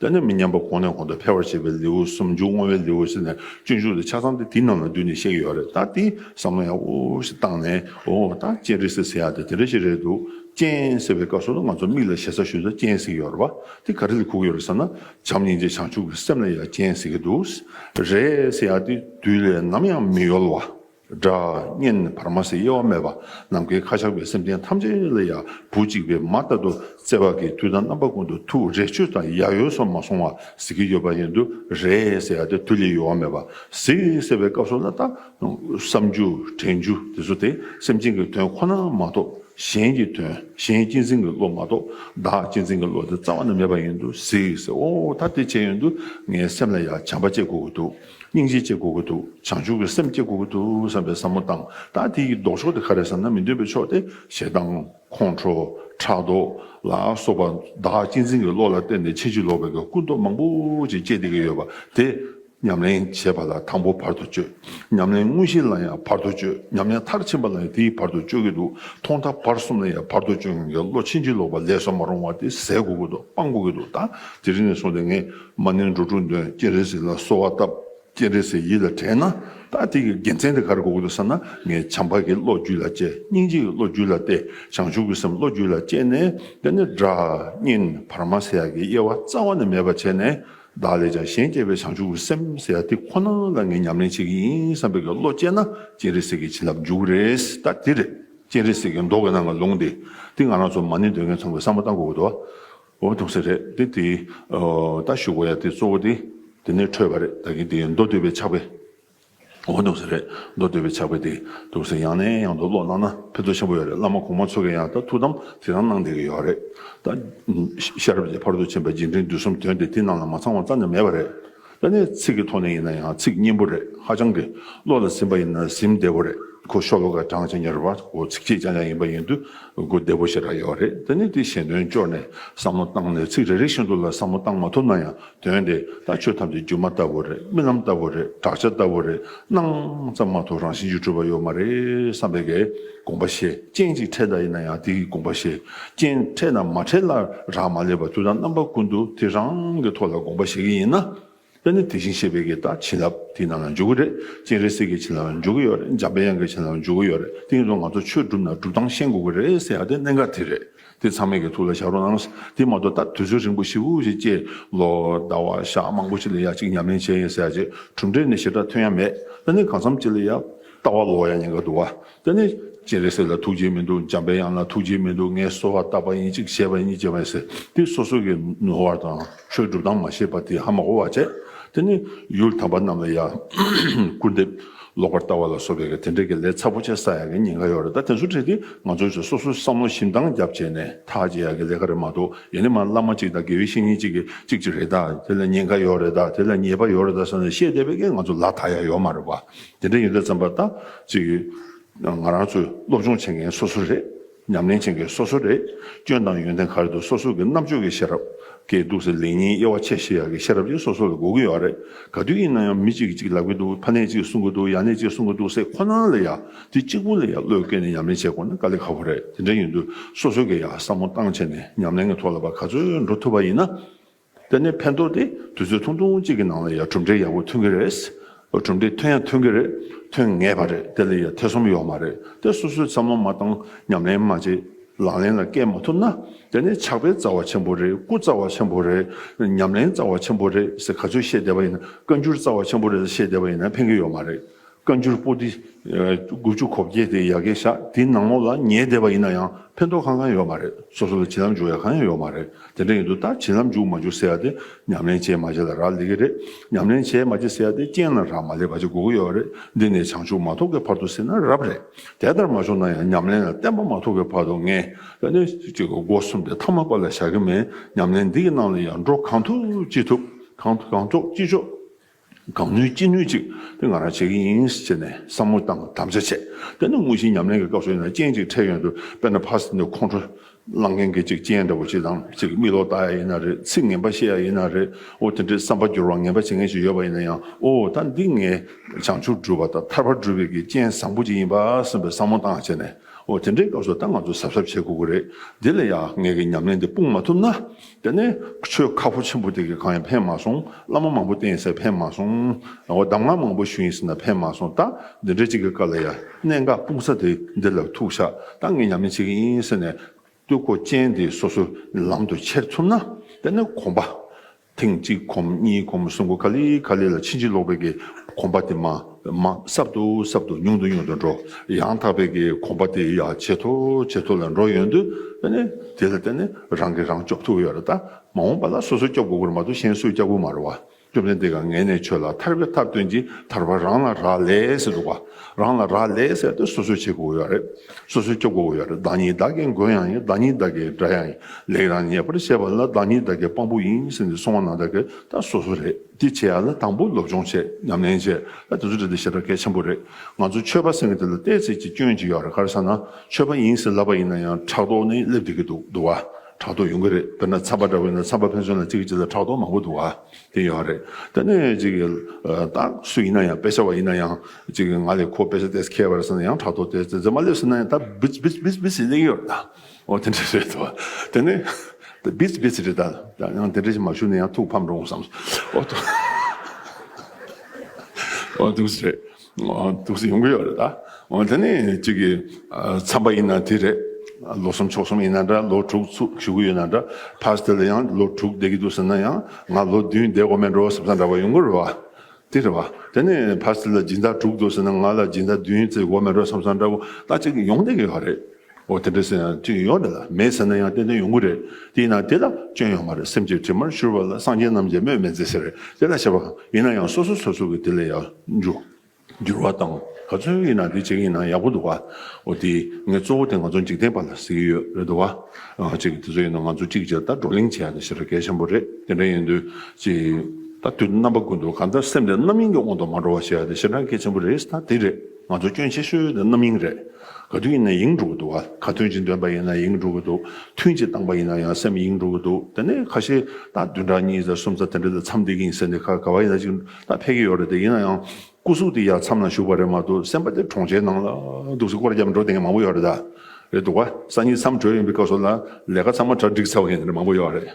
སྟན་ནས་མི་ཉམས་པ་གོང་ནས་གོང་དུ་འཕེལ་བར་བྱེད་པའི་ལེའུ་གསུམ་འཇུག་བསྔོ་བའི་ལེའུ་བཞི་ནས་སྤྱོད་འཇུག་དེ་ཆ་ཚང་སྟེ་དེ་རྣམས་ལ་འདུས་ནས་གཤེགས་ཡོད་རེད་ད་དེ་བསམ་མནོ་ཡང་དབུ་ཞིག་བཏང་ནས་ཨོ་ད་སྤྱན་རས་གཟིགས་ཟེར་ཡག་དེ་དེ་འདྲ་ཞིག་རེད་འདུག་སྤྱན་ཟེར་བའི་སྐབས་སུ་ང་ཚོ་མིག་ལ་ཞེ་ས་ཞུ་ས་སྤྱན་གཟིགས་ཡོར་བ་དེ་ག་རེ་ལ་ཁུག་ཡོར་ཟེར་ན་བྱམས་སྙིང་རྗེ་བྱང་ཆུབ་ཀྱི་སེམས་ལ་ཡང་སྤྱན་གཟིགས་ཀྱི་འདུག་རེད་ཟེར་ཡག་དེ་དུས་ལས་ནམ་ཡང་མི་ཡོལ་བ། སྒྲ་བརྙན་བར་མ་ཟད་དབྱེ་བ་མེད་པ་ནམ་མཁའི་ཁ་ཆགས་པའི་སེམས་ཅན་ཐམས་ཅད་ལ་ཡང་བུ་གཅིག་པའི་མ་ལྟ་དུ་བརྩེ་བ་གིས་དུས་དང་རྣམ་པ་ཀུན་ཏུ་ཐུགས་རེ་ཆོད་དང་ཡ་ཡོད་སོ་མ་སོང་བ་ཟེར་གྱི་ཡོད་པ་ཡིན་དུ་རེད་ཟེར་ཏེ་དུས་ལས་ཡོལ་བ་མེད་པ་ཟིག་ཟེར་བའི་སྐབས་སུ་ལ་ལྟ་བསམ་རྒྱུ་དྲན་རྒྱུ་དེ་ཚོ་དེ་སེམས་ཅན་གྱི་དོན་ཁོ་ན་མ་གཏོགས་གཞན་གྱི་དོན་གཞན་གཅེས་འཛིན་གྱི་བློ་མ་གཏོགས་བདག་གཅེས་འཛིན་གྱི་བློ་དེ་རྩ་བ་ནས་མེད་པ་ཡིན་དུ་ཟིག་ཟེར་འོ་ད་དེ་བྱས་ཡོན་དུ་ངའི་སེམས་ལ་ཡང་བྱམས་པ་སྐྱེ་དགོས་ཀྱི་འདུག། སྙིང་རྗེ་སྐྱེ་དགོས་ཀྱི་འདུག་བྱང་ཆུབ་ཀྱི་སེམས་སྐྱེ་དགོས་ཀྱི་འདུག་བསམ་པའི་བསམ་བློ་བཏང་ད་དེ་ཡི་ལྡོག་ཕྱོགས་དེ་ག་རེད་བསམ་ན་མི་འདོད་པའི་ཕྱོགས་དེ་ཞེ་སྡང། ཁོང་ཁྲོ། ཕྲག་དོག། ལ་སོགས་པ་བདག་གཅེས་འཛིན་གྱི་བློ་ལ་བརྟེན་ཏེ་ཕྱིན་ཅི་ལོག་པའི་ཀུན་རྟོག་མང་པོ་ཅིག་སྐྱེ་བསྡད་ཀྱི་ཡོད་པ་དེ་ཉམས་ལེན་བྱེད་པ་ལ་དང་པོ་བར་དུ་གཅོད། ཉམས་ལེན་དངོས་གཞི་ལ་ཡང་བར་དུ་གཅོད་ཉམས་ལེན་མཐར་ཕྱིན་པ་ལ་ཡང་དེ་ཡི་བར་དུ་གཅོད་ཀྱི་འདུག་ཐོག་མཐའ་བར་གསུམ་ལ་ཡང་བར་དུ་གཅོད་མཁན་གྱི་བློ་ཕྱིན་ཅི་ལོག་པ་ལས་སོ་མ་རུང་བ་དེ་ཟད་དགོས་ཀྱི་འདུག་སྤང་དགོས་ཀྱི་འདུག་ད་དེ་རིང་ནས་བཟུང་སྟེ་ངས། མ་ནིང་འགྲོ་དྲུག་འདོན་སྤྱན་རས་གཟིགས་ལ་གསོལ་བ་བཏབ། སྤྱན་རས་གཟིགས་ཡིད་ལ་དྲན་ན། ད་ཐེངས་ཀྱི་དགེ་མཚན་འདི་གར་འགོག་དགོས་བསམ་ན་ངས་བྱམས་པ་གྱི་བློ་རྒྱུད་ལ་བཅས་སྙིང་རྗེ་ཡི་བློ་རྒྱུད་ལ་བརྟས་བྱང་ཆུབ་ཀྱི་སེམས་བློ་རྒྱུད་ལ་བཅས་ནས་དེ་ནས་སྒྲ། བརྙན། བར་མ་སེ་ཡ་གི་དབྱེ་བ་རྩ་བ་ནས་མེད་པར་བྱས་ནས། བདག་ལས་ཀྱང་གཞན་སྐྱེ་བའི་བྱང་ཆུབ་ཀྱི་སེམས་སེ་ཡ་དེ་ཁོ་ན་ལ་ངས་ཉམས་ལེན་བྱེད་ཀྱི་ཡིན་བསམ་པའི་གི་བློ་བསྐྱེད་ན་སྤྱན་རས་གཟིགས་ཀྱི་བྱིན་རླབས་འཇུག་གི་རེད་ད་དེ་རེད་སྤྱན་རས་གཟིགས་ཀྱི་མདོག་གི་ནང་གི་ལུང་དེ་དེ་ང་རང་ཚོ་མ་ནིང་འདོན་མཁན་ཚང་མས་བསམ་བློ་བཏང་དགོས་དགོས་འདུག། འོ་ཐུག་ས་རེད་དེ་དེ། ལྟ་ཞུ་གོ་ཡ་དེ་གཙོ་བོ་དེ། དེ་ནས་འཕྲོས་པ་རེད་ད་གིན་དེ་མདོ་སྟོད་པའི་ཕྱག་དཔེ། འོ་ཐུག་ས་རེད་མདོ་སྟོད་པའི་ཕྱག་དཔེ་དེ་འདུག་ས་ཡང་ནས་ཡང་དུ་ཀློག་གནང་ན་ཕན་ཐོག་ཆེན་པོ་ཡོད་རེད་བླ་མ་གོང་མ་ཚོ་གི་ཡང་ད་ཐུག་དམ་དེ་རང་གནང་བསྡད་ཀྱི་ཡོད་རེད་ད། ཤར་རྗེ་བར་དུ་ཕྱིན་པ་རྗེས་འབྲིང་བསྡུས་གསུམ་དོན་དེ་དེ་རྣམས་ལ་མ་ཚང་བ་རྩ་ནས་མེད་པ་རེད། ཨ་ནི་ཚིག་གི་ཐོག་ནས་ཡིན་ན་ཡང་ཚིག་སྙན་པོ་རེད་ཧ་ཅང་གི་བློ་ལ་ཟིན་པ་ཡིན་ན་ཟིན་བདེ་བོ་རེད་གོ་ཤོ་ལོ་ཀ་གྲངས་ཇི་སྙེར་བ་གོ་ཚིག་ཅི་ལྕང་ལྕང་ཡིན་པ་ཡིན་དུས་གོ་བདེ་བོ་ཞེ་དྲག་ཡོད་རེད་དེ་ནི་དེ་གཞན་དོན་སྤྱོར་ནས་བསམ་བློ་བཏང་ནས་ཚིག་རེ་རེ་བཞིན་དུ་ལ་བསམ་བློ་བཏང་མ་ཐུབ་ན་ཡང་དོན་དེ་ལྟ་ཆོས་ཐམས་ཅད་སྒྱུ་མ་ལྟ་བུ་རེད་རྨི་ལམ་ལྟ་བུ་རེད་བྲག་ཆ་ལྟ་བུ་རེད་སྣང་ཙམ་མ་ཐུབ་རང་བཞིན་གྱི་གྲུབ་པ་ཡོད་མ་རེད་བསམ་པའི་གེ། དགོངས་པ་བཞེས་སྤྱན་གཅིག་འཕྲལ་དག་ཡིན་ན་ཡང་དེ་ཡི་དགོངས་པ་བཞེས་སྤྱན་འཕྲལ་དང་མ་འཕྲལ་ལ་རག་མ་ལས་པར་དུས་དང་རྣམ་པ་ཀུན་ཏུ་དེ་རང་གི་ཐོག་ལ་དགོངས་པ་བཞེས་ཀྱི་ཡིན་ན། དཔེར་ན་དེ་བཞིན་གཤེགས་པའི་གེ་དང་བྱིན་རླབས་དེ་རྣམས་ལ་འཇུག་གི་རེད་སྤྱན་རས་གཟིགས་ཀྱི་བྱིན་རླབས་ལ་འཇུག་གི་ཡོད་རེད་འཇམ་པའི་དབྱངས་ཀྱི་བྱིན་རླབས་ལ་འཇུག་གི་ཡོད་རེད་དེ་ཡིན་དུ་ང་ཚོ་ཆོས་བསྒྲུབ་ན་སྒྲུབ་སྟངས་ཤེས་དགོས་ཀྱི་རེད་ཟེར་ཡག་དེ་གནད་འགག་དེ་རེད། དེ་ཚང་མས་ཀྱི་ཐུགས་ལ་བཞག་རོགས་གནང། དེ་མ་གཏོགས་ད་དུས་ཚོད་རིང་པོ་ཞིག་འུ་ཞིག་ཅེས་ལོ་ཟླ་བ་ཞག་མང་པོ་ཞིག་ལ་ཡ་གཅིག་ཉམས་ལེན་བྱས་ཡིན་ཟེར་རྗེས་གྲུབ་འབྲས་ནི་ཞེ་དྲག་ཐོན་ཡ་མེད་ད་ནི་གང་འཚམ་ཅི་ལ་ཡ། ལྟ་བ་ལོག་ཡ་ཉེན་ཁ་འདུག་ད་ནི། སྤྱན་རས་གཟིགས་ལ་ཐུགས་རྗེ་མི་འདུག་འཇམ་པའི་དབྱངས་ལ་ཐུགས་རྗེ་མི་འདུག་ངས་གསོལ་བ་བཏབ་པ་ཡིན་གཅིག་བྱས་པ་ཡིན་ཅེས་པ་ཡིན་ཟེར་དེ་སོ་སོ་ཀྱི་ནུས་བར་དང། ཆོས་སྒྲུབ་དང་མ་ཤེས་པ་དེ་ཧ་མ་གོ་བར་བྱས། དེ་ནས་ཡུལ་དམ་པ་རྣམས་ལ་ཡང་སྐུར་འདེབས་ལོག་པར་ལྟ་བ་ལ་སོགས་པའི་དེ་འདྲ་གི་ལས་ཚ་པོ་བྱས་ས་ཡ་གི་ཉིན་ག་ཡོད་རེད་ད་དེ་ཚོ་བྲིས་ཏེ་ང་ཚོས་ཚོས་སོ་སོའི་བསམ་བློ་ཞིབ་འདང་བརྒྱབ་བྱས་ནས་ཐག་བཅད་ཡ་གི་ལས་ཀ་རེད་མ་གཏོགས་ཡིན་ནི་མ་བླ་མ་གཅིག་དང་དགེ་བའི་བཤེས་གཉེན་གཅིག་གི་གཅིག་གཅིག་རེད་ད་དེ་ལ་ཉིན་ག་ཡོད་རེད་ད་དེ་ལ་ཉེས་པ་ཡོད་རེད་ད་ཟེར་ནས་བཤད་བསྡད་པའི་ཀྱི་ང་ཚོ་ལ་ཐག་ཡ་ཡོད་མ་རེད་བ་དེ་འདྲ་ཡིན་ད་ཙམ་པ་ད་ཅིག་ང་རང་ཚོའི་སློབ་སྦྱོང་བྱེད་མཁན་སོ་སོ་རེད། ཉམས་ལེན་ཅན་གྱི་སོ་སོ་རེ་སྐྱོན་དང་ཡོན་ཏན་ག་རེ་འདུག་སོ་སོ་གྱི་རྣམ་དཔྱོད་ཀྱི་ཤེས་རབ་ཀྱི་འདུག་ཟེར་ལེ་ཉིན་དབྱེ་བ་ཕྱེ་ཤེས་ཡག་གི་ཤེས་རབ་ཀྱི་སོ་སོ་ལ་གོ་གི་ཡོད་རེད་ག་དུས་ཡིན་ན་ཡང་མི་གཅིག་གིས་གཅིག་ལབ་གི་འདུག་ཕ་ནད་གཅིག་གསུང་གི་འདུག་ཡ་ནད་གཅིག་གསུང་གི་འདུག་ཟེར་ཁོ་ན་ལ་ཡ་དེ་གཅིག་པུ་ལ་ཡ་བློས་བཀལ་ནས་ཉམས་ལེན་བྱེད་དགོས་ན་དཀའ་ལས་ཁག་པོ་རེད་དེ་འདྲ་ཡིན་དུས་སོ་སོ་གྱིས་ཡང་བསམ་བློ་བཏང་བྱས་ནས་ཉམས་ལེན་གྱི་ཐོག་ལ་བ་ག་ཚོད་འགྲོ་ཐུབ་པ་ཡིན་ན་དེ་ནས་ཕན་ཐོགས་དེ་དུས་ཚོད་ཐུང་ཐུང་གཅིག་གི་ནང་ལ་ཡང་གྲུབ་འབྲས་ཡག་པོ་ཐོན་གི་རེད། གྲུབ་འབྲས་ཐོན་ཡང་ཐོན་གི་རེད། ཐོན་ངེས་པ་རེད་དེ་ལ་ཡང་ཐེ་ཚོམ་ཡོད་མ་རེད་དེ་སོ་སོས་འཚམས་མ་མ་བཏང་ཉམས་ལེན་མ་བྱེད་ལག་ལེན་ལ་བཀལ་མ་ཐུབ་ན་དེ་ནི་ཆགས་པའི་རྩ་བ་ཆེན་པོ་རེད་སྐུ་རྩ་བ་ཆེན་པོ་རེད་ཉམས་ལེན་རྩ་བ་ཆེན་པོ་རེད་ཟེར་ག་ཚོད་བཤད་བསྡད་པ་ཡིན་ན་བཀའ་འགྱུར་རྩ་བ་ཆེན་པོ་རེད་ཟེར་བཤད་བསྡད་པ་ཡིན་ན་ཕན་གི་ཡོད་མ་རེད། བཀའ་འགྱུར་པོ་ཏི་དགུ་བཅུ་གོ་བརྒྱད་དེ་ཡ་གེ་བཞག་དེའི་ནང་ལོགས་ལ་ཉལ་བསྡད་པ་ཡིན་ན་ཡང་ཕན་ཐོགས་གང་གང་ཡོད་མ་རེད་སོ་སོ་ལ་བྱིན་རླབས་འཇུག་ཡ་གང་ཡང་ཡོད་མ་རེད་དེ་འདྲ་ཡིན་དུས་ད་བྱིན་རླབས་འཇུག་མ་འཇུག་ཟེར་ཡ་དེ་ཉམས་ལེན་བྱས་མ་བྱས་ལ་རག་ལས་ཀྱི་རེད་ཉམས་ལེན་བྱས་མ་བྱས་ཟེར་ཡ་དེ་རྐྱེན་ལ་རག་མ་ལས་བར་གྱི་དགོས་མཁོ་ཡོད་རེད་འདི་ནས་བྱང་ཆུབ་མ་ཐོབ་ཀྱི་བར་དུ་ཟེར་ན་རབ་རེད་དེ་ལྟར་མ་བྱུང་ན་ཡང་ཉམས་ལེན་ལ་བརྟན་པ་མ་ཐོབ་ཀྱི་བར་དུ་ངས་ད་ནས་སྒོ་གསུམ་དེ་མཐའ་མ་པ་ལ་བཞག་གི་མེད་ཉམས་ལེན་འདི་གི་ནང་ལ་ཡང་འགྲོ་གང་ཐུབ་ཅི་ཐུབ་གང་ཐུབ་ཅི་ཆོག། གང་ནུས་ཅི་ནུས་ཅིག་དེ་ང་རང་བྱེད་ཀྱི་ཡིན་ཟེར་ནས་བསམ་བློ་དང་དམ་བཅའ་བྱས། དེ་ནི་དངོས་གཞིའི་ཉམས་ལེན་གྱི་སྐབས་སུ་ཡིན་ན་རྐྱེན་གཅིག་འཕྲད་ཡོད་འདུག་དཔེར་ན་ཕར་ཟིན་དུ་ཁོང་ཁྲོ་སླང་མཁན་གྱི་ཅིག་རྐྱེན་འདྲ་བོ་ཅིག་དང་ཅིག་མིག་ལོག་ལྟ་ཡ་ཡིན་ན་རེད་ཚིག་ངན་པ་བཤད་ཡ་ཡིན་ན་རེད་འོ་དེ་འདྲའི་བསམ་པ་འགྱུར་བར་ངན་པ་བྱེད་མཁན་ཞིག་ཡོད་པ་ཡིན་ན་ཡང་འོ་ད་འདི་ངས་བྱང་ཆུབ་སྒྲུབ་པ་དང་ཐར་པ་སྒྲུབ་པའི་གྱི་རྐྱེན་བཟང་པོ་ཅིག་ཡིན་པ་སེམས་པའི་བསམ་བློ་བཏང་བྱས་ནས་འོ་དེ་འདྲའི་སྐབས་སུ་ད་ང་ཚོ་གཟབ་གཟབ་བྱེད་དགོས་ཀྱི་རེད་འདི་ལ་ཡ་ངས་ཀྱི་ཉམས་ལེན་འདི་སྤུངས་མ་ཐུབ་ན། དེ་ནས་ཆོས་ཁ་ཕོ་ཆེན་པོ་དེ་གས་གང་ཡང་ཕན་མ་སོང། བླ་མ་མང་པོ་བསྟེན་ཡིན་ཟེར་ཕན་མ་སོང། རང་བ་གདམས་ངག་མང་པོ་ཞུས་ཡིན་ཟེར་ན་ཕན་མ་སོང་ད། འདི་འདྲའི་གཅིག་གི་བཀའ་ལ་ཡ། གནད་འགག་སྤུངས་ས་དེ་འདི་ལ་ཐུག་བཞག་ད་ངས་ཉམས་ལེན་བྱེད་ཀྱི་ཡིན་ཟེར་ནས། སྟོད་གོ་ཅན་དེ་སོ་སོའི་ལམ་དུ་ཁྱེར་ཐུབ་ན། དེ་ནས་གོམས་པ། ཐེངས་གཅིག་གོམས་གཉིས་གོམས་གསུམ་གོ་ག་ལི་ག་ལི་ལ་ཕྱིན་ཅི་ལོག་པའི་གི་གོམས་པ་དེ་མ། མ། སྲབ་ཏུ་སྲབ་ཏུ་ཉུང་དུ་ཉུང་དུ་འགྲོ། ཡང་དག་པའི་གི་གོམས་པ་དེ་ཡང་ཇེ་མཐོ་ཇེ་མཐོ་ལ་འགྲོ་ཡོང་དུས། དེ་ལ་བརྟེན་ནས་རང་གིས་རང་སྐྱོབས་ཐུབ་ཡོད་ལ་ད། མ་འོངས་པ་ལ་སོ་སོས་སྐྱོབས་དགོས་ཁུལ་མ་གཏོགས་གཞན་སུས་སྐྱབས་ཁུལ་མ་རུང་བ། སྐྱོབས་མཁན་དེ་ག་ངལ་ནས་ཆོད་ལ་ཐར་བའི་ཐབས་སྟོན་གྱི་ཐར་བ་རང་ལ་རག་ལས་འདུག་བ། རང་ལ་རག་ལས་ཟེར་ཏེ་སོ་སོས་བྱེད་དགོས་ཡོད་རེད། སོ་སོས་སྐྱོབས་དགོས་ཡོད་རེད་བདག་ཉིད་བདག་གི་མགོན་ཡང་ཡིན་བདག་ཉིད་བདག་གི་དགྲ་ཡང་ཡིན་ལེགས་རང་ཉེས་པར་བཤད་པ་ལ་བདག་ཉིད་བདག་གི་དཔང་པོ་ཡིན་ཟེར་ནས་སོང་བ་ན་ད་གི་ད་སོ་སོ་རེད། དེ་བྱས་ཡག་ན་དང་པོ་སློབ་སྦྱོང་བྱས་ཉམས་ལེན་བྱས་ད་དེ་ཚོ་འདྲ་འདྲ་བྱེད་པ་གལ་ཆེན་པོ་རེད་ང་ཚོ་ཆོས་པ་ཟེར་མཁན་དེ་ལ་བལྟས་ཚེ་ཅི་སྐྱོན་ཅི་ཡོད་རེད་གར་ས་ན་ཆོས་པ་ཡིན་ཟེར་ལབ་པ་ཡིན་ན་ཡང་ཕྲག་དོག་ནི་སླེབས་བསྡད་ཀྱི་འདུག་འདུག་བ་ཕྲག་དོག་ཡོང་གི་རེད་དཔེར་ན་ཚངས་པ་འདྲ་བོ་ཡིན་ན་ཚངས་པ་ཕན་ཚུན་ལ་གཅིག་གི་གཅིག་ལ་ཕྲག་དོག་མང་པོ་འདུག་བ་དེ་ཡོད་རེད་ད་ནས་ཅིག་ཏག་སུ་ཡིན་ན་ཡང་དཔེ་ཆ་བ་ཡིན་ན་ཡང་ཅིག་ང་ལས་ཁོ་དཔེ་ཆ་ལྟས་ཁེལ་བ་རེད་ཟེར་ན་ཡང་ཕྲག་དོག་དེ་ཚོ་མ་སླེབས་ཟེར་ན་ཡང་ད་བི་བི་བི་བི་བི་བྱེད་ཀྱི་ཡོད་རེད་ད། འོ་དེ་འདྲ་རེད་དོ། དེ་ནས་བིས་བིས་རེད་ད། ཡང་དེ་འདྲ་ཞིག་མ་བྱུང་ན་ཡང་ཐུགས་ཕམ་འགྲོ་འོང་བསམ། འོ་ཐུགས། འོ་ཐུགས་སུ་རེད། འོ་ཐུགས་སུ་ཡོང་གི་ཡོད་རེད་ད། འོ་དེ་ནས་ཅིག་གིས་འཚམས་པ་ཡིན་ན་དེ་རེད། ལོ་གསུམ་ཕྱོགས་གསུམ་ཡིན་ན་འདྲ་ལོ་དྲུག་བཞུགས་གི་ཡོད་ན་འདྲ་ཕར་ཟད་ལ་ཡང་ལོ་དྲུག་བསྡད་ཀྱི་འདུག་ཟེར་ན་ཡང་ང་ལོ་བདུན་བསྡད་དགོས་མེད་འགྲོ་ཟེར་བ་དང་འདྲ་བ་ཡོང་གི་རེད་བ། དེ་རེད་བ། དེ་ནས་ཕར་ཟད་ལ་སྦྱིན་བདག་དྲུག་འདུག་ཟེར་ན་ང་ལ་སྦྱིན་བདག་བདུན་བཙལ་དགོས་མེད་འགྲོ་བསམ་ས་འདྲ་བོ་ད་ཅིག་ཡོང་བསྡད་ཀྱི་ཡོད་རེད། འོ་དེ་འདྲ་སེམས་ཡང་སྐྱོན་ཡོད་རེད་ལ་མེད་ཟེར་ན་ཡང་ཏན་ཏན་ཡོང་གི་རེད་དེས་ན་དེ་ལ་སྐྱོན་ཡོད་མ་རེད་སེམས་ཀྱི་དྲི་མར་བཞུར་བ་ལ་སངས་རྒྱས་རྣམས་ཀྱིས་སྨོས་མེད་མཛད་ཟེར་རེད་དེ་ལ་བྱས་པ་གང་ཡིན་ན་ཡང་སོ་སོ་སོ་སོ་གི་དེ་ལས་ཡག་འཇུག་འགྱུར་བ་དང་ག་ཚོད་ཡིན་ན་དེ་བྱེད་ཀྱི་ཡིན་ན་ཡག་པོ་འདུག་བ་འོ་དེ་ངས་གཙོ་བོ་དེ་ང་ཚོ་འཇིག་རྟེན་པ་ལ་ཟེར་གྱི་ཡོད་རེད་འདུག་བ་གཅིག་དེ་ཚོ་ཡིན་ན་ང་ཚོ་གཅིག་རྗེས་ལྟར་བགྲོ་གླེང་བྱས་ཡག་ནི་བྱས་ར་གལ་ཆེན་པོ་རེད་དེ་འདྲ་ཡིན་དུས་གཅིག་ད་དུས་རྣམ་པ་ཀུན་ཏུ་གང་ལྟར་སེམས་དེ་རྣམ་གཡེང་གི་དབང་དུ་མ་འགྲོ་བ་བྱས་ཡག་ནི་ཞེ་དྲག་གལ་ཆེན་པོ་རེད་ད་དེ་རེད། ང་ཚོ་སྐྱོན་ཆེ་ཤོས་དེ་རྣམ་གཡེང་རེད། ག་དུས་ཡིན་ན་གཡེང་འགྲོ་གི་འདུག་ག་ག་དུས་ཅིག་འདོན་པ་ཡིན་ན་གཡེང་འགྲོ་གི་འདུག་ཐུན་ཅིག་བཏང་པ་ཡིན་ན་ཡང་སེམས་གཡེང་འགྲོ་གི་འདུག་དེ་ནས་ཁ་ཤས་ད་བདུན་ཕྲག་གཉིས་ཚར་གསུམ་ཚར་དེ་འདྲ་དེ་མཚམས་འདེགས་ཡིན་ཟེར་ནས་ཁ་ག་བ་ཡིན་ན་ཅིག་ད་ཕེབས་ཀྱི་ཡོད་རེད་དེ་ཡིན་ན་ཡང་སྐུ་གཟུགས་དེ་ཡར་མཚམས་ན་བཞུགས་པ་རེད་མ་གཏོགས་སེམས་པ་དེ་གྲོང་ཁྱེར་ནང་ལ་འདུག་སེ་སྐོར་བརྒྱབ་འགྲོ་དེ་ཡིན་མང་པོ་ཡོད་རེད་ད་རེད་འདུག་ག་ས་གཉིས་མཚམས་གྲོལ་ཡིན་པའི་སྐབས་སུ་ལ་ལས་ཀ་ཚང་མ་གྲ་སྒྲིག་ཚར་བ་ཡིན་རེད་མང་པོ་ཡོད་རེད།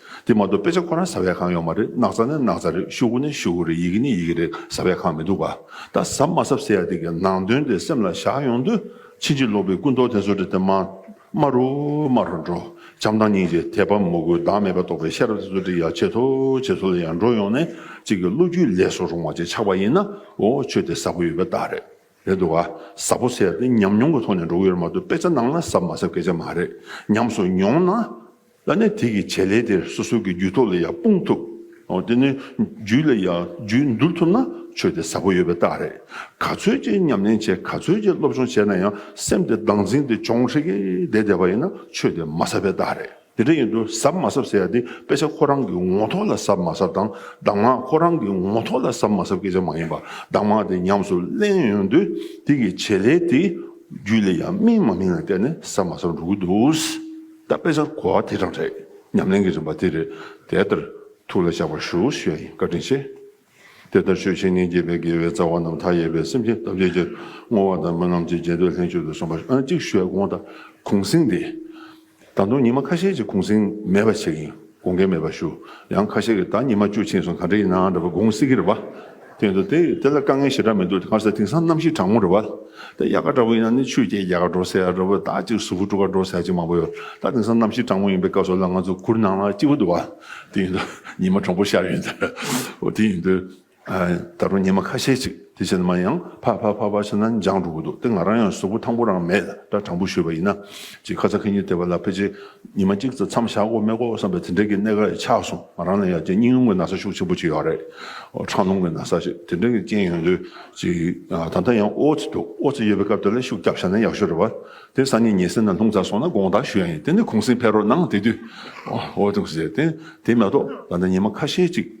དེ་མ་གཏོགས་དཔེ་ཆ་ཁོ་རང་ཟ་བའི་ཁང་ཡོག་མ་རེད་སྣག་ཚ་ནི་སྣག་ཚ་རེད་ཤུག་གུ་ནི་ཤུག་གུ་རེད་ཡི་གེ་ནི་ཡི་གེ་རེད་ཟ་བའི་ཁང་མི་འདུག་བ་ད་ཟབ་མ་ཟབ་ཟེར་ཡ་དེ་གི་ནང་དོན་དེ་སེམས་ལ་བཞག་ཡོང་དུས་ཕྱིན་ཅི་ལོག་པའི་སྐུ་མདོག་དེ་ཚོ་དྲི་དེ་མ་དམར་རུ་དམར་རུ་འགྲོ་བྱམས་དང་སྙིང་རྗེ་དད་པ་མོ་གུས་བདག་མེད་པ་རྟོགས་པའི་ཤེས་རབ་དེ་ཚོ་དྲི་ཡག་ཆེ་ཐོ་ཆེ་ཚོ་ལ་ཡང་འགྲོ་ཡོང་ནས་གཅིག་གི་བློ་རྒྱུས་ལས་སུ་རུང་བ་ཅིག་ཆགས་པ་ཡིན་ན་འོ་ཆོས་དེ་ཟབ་པོ་ཡོད་པའི་རྟགས་རེད་རེད་འདུག་བ་ཟབ་པོ་ཟེར་ཡ་དེ་ཉམས་མྱོང་གི་ཐོག་ནས་འགྲོ་གི་ཡོད་མ་གཏོགས་དཔེ་ཆ་ནང་ན་ཟབ་མ་ཟབ་སྐད་ཆ་མ་རེད་ཉམས་སུ་མྱོང་ན། ལ་གནས་དེ་གི་བྱེད་ལས་དེར་སོ་སོའི་གི་རྒྱུད་ཐོག་ལ་ཡང་སྤུངས་ཐུབ། དེ་ནི་རྒྱུད་ལ་ཡང་རྒྱུད་འདུར་ཐུབ་ན་ཆོས་དེ་ཟབ་པོ་ཡོད་པའི་རྟགས་རེད། ག་ཚོད་ཅིག་ཉམས་ལེན་བྱས་ག་ཚོད་ཅིག་སློབ་སྦྱོང་བྱས་ན་ཡང་སེམས་དེ་སྡང་འཛིང་དེ་ཅོང་ཧྲིག་གེ་བསྡད་བསྡད་པ་ཡིན་ན་ཆོས་དེ་མ་ཟབ་པའི་རྟགས་རེད། དེ་འདྲ་ཡིན་དུས་ཟབ་མ་ཟབ་ཟེར་ཡ་དེ་དཔེ་ཆ་ཁོ་རང་གི་ངོ་ཐོག་ལ་ཟབ་མ་ཟབ་དང་གདམས་ངག་ཁོ་རང་གི་ངོ་ཐོག་ལ་ཟབ་མ་ཟབ་སྐད་ཆ་མ་ཡིན་པ་གདམས་ངག་དེ་ཉམས་སུ་ལེན་ཡོང་དུས་དེ་གི་བྱེད་ལས་དེ་རྒྱུད་ལ་ཡང་སྨིན་མ་སྨིན་ལ་བལྟས་ནས་ཟབ་མ་ཟབ་འགྲོ་གི་འདུག། ད་དཔེ་ཆར་གོ་བ་དེ་རང་རེད་ཉམས་ལེན་གྱི་རིམ་པ་དེ་རེད་དེ་ལྟར་ཐུགས་ལ་བཞག་པར་ཞུ་ཞེས་བཀའ་དྲིན་ཆེ། དེ་ལྟར་ཆོས་བཤེས་གཉེན་དགྱེས་པའི་དགེ་བའི་རྩ་བ་རྣམས་མཐའ་ཡས་པའི་སེམས་ཅན་ཐམས་ཅད་ཀྱི་བསྔོ་བ་དང་སྨོན་ལམ་གྱིས་རྒྱས་འདེབས་ལྷན་ཅིག་ཏུ་སོང་པ་ཨ་ཅིག་ཤོད་དགོངས་དག་གུང་གསེང་འདི་ད་དུང་ཉི་མ་ཁ་ཤས་ཀྱི་གུང་གསེང་མེད་པ་ཞིག་ཡིན། དགོངས་འགལ་མེད་པར་ཞུ། ཡང་ཁ་ཤས་ཀྱིས་ད་ཉི་མ་བཅུ་ཕྱིན་སོང་ག་འདྲ་ཡིན་ནའང་འདྲ་བ་དགོངས་སྲིད་ཀྱི་རེད་བ། དེ་ཡིན་དུ་དེ་དེ་ལ་དཀའ་ངལ་ཞེ་དྲག་མི་འདུག་ཁ་ཟས་དེང་སང་གནམ་གཤིས་གྲང་མོ་རེད་བ། དེ་དབྱར་ཁ་འདྲ་བོ་ཡིན་ན་ནི་ཆུ་སྐྱེས་རྒྱ་ཁ་འགྲོ་ས་ཡ་རེད་བ་ད་ཅིག་གཟུགས་པོ་སྤྲོ་ག་འགྲོ་ས་ཡ་ཅིག་མང་པོ་ཡོད་ད་དེང་སང་གནམ་གཤིས་གྲང་མོ་ཡིན་པའི་སྐབས་སོགས་ལ་ང་ཚོ་གུར་ནང་ལ་གཅིག་པོ་འདུག་བ། དེ་ཡིན་དུ་ཉི་མ་གྲང་པོ་ཤར་ཡོད་འདུག་དེ་ཡིན་དུ། ད་རུང་ཉི་མ་ཁ་ཤས་ཅིག་དེ་བཞིན་མ་ཡང་ཕ་ཕ་ཕ་ཕ་ཞེས་ན་འཇང་འགྲོ་གི་འདུག་དེ་ང་རང་ཡང་གཟུགས་པོ་ཐང་པོ་རང་མེད་འདྲ་དྲང་པོ་ཞུས་པ་ཡིན་ན། ཅེས་ཁ་ཚ་ཁེ་ཉེར་བསྡད་པ་ལ་ཕལ་ཆེར་ཉི་མ་གཅིག་ཙམ་མཚམས་བཞག་གོ་མེད་གོ་བསམ་པའི་དེ་འདྲའི་གི་གནད་ཀ་ཡང་ཆགས་སོང་ང་རང་ལ་ཡང་ཅེ་སྙིང་རླུང་གི་ན་ཚ་ཤུགས་ཆེན་པོ་ཅིག་ཡོད་རེད། ཁྲག་རླུང་གི་ན་ཚ་ཞིག་དེ་འདྲའི་གི་རྐྱེན་ཡོད་དུས་ཅིག་ད་ལྟ་ཡང་ཨོ་ཙི་འདུག་ཨོ་ཙི་ཡོད་པའི་སྐབས་དེ་ལ་ཤུགས་རྒྱབ་བཞག་ན་ཡག་ཤོས་རེད་བ། དེ་སང་ཉིན་ཉལ་སེ་ན་ལྷུང་ཚར་སོང་ན་དགོངས་དག་ཞུ་ཡ་ཡིན་དེ་ནས་གུང་སེང་ཕེབས་རོགས་གནང་དེ་དུས་ཨོ་ཨོ་ཙི་ཟེར་ཏེ་དེ་མ་གཏོགས་ད་ལྟ་ཉི་མ་ཁ་ཤས་ཅིག།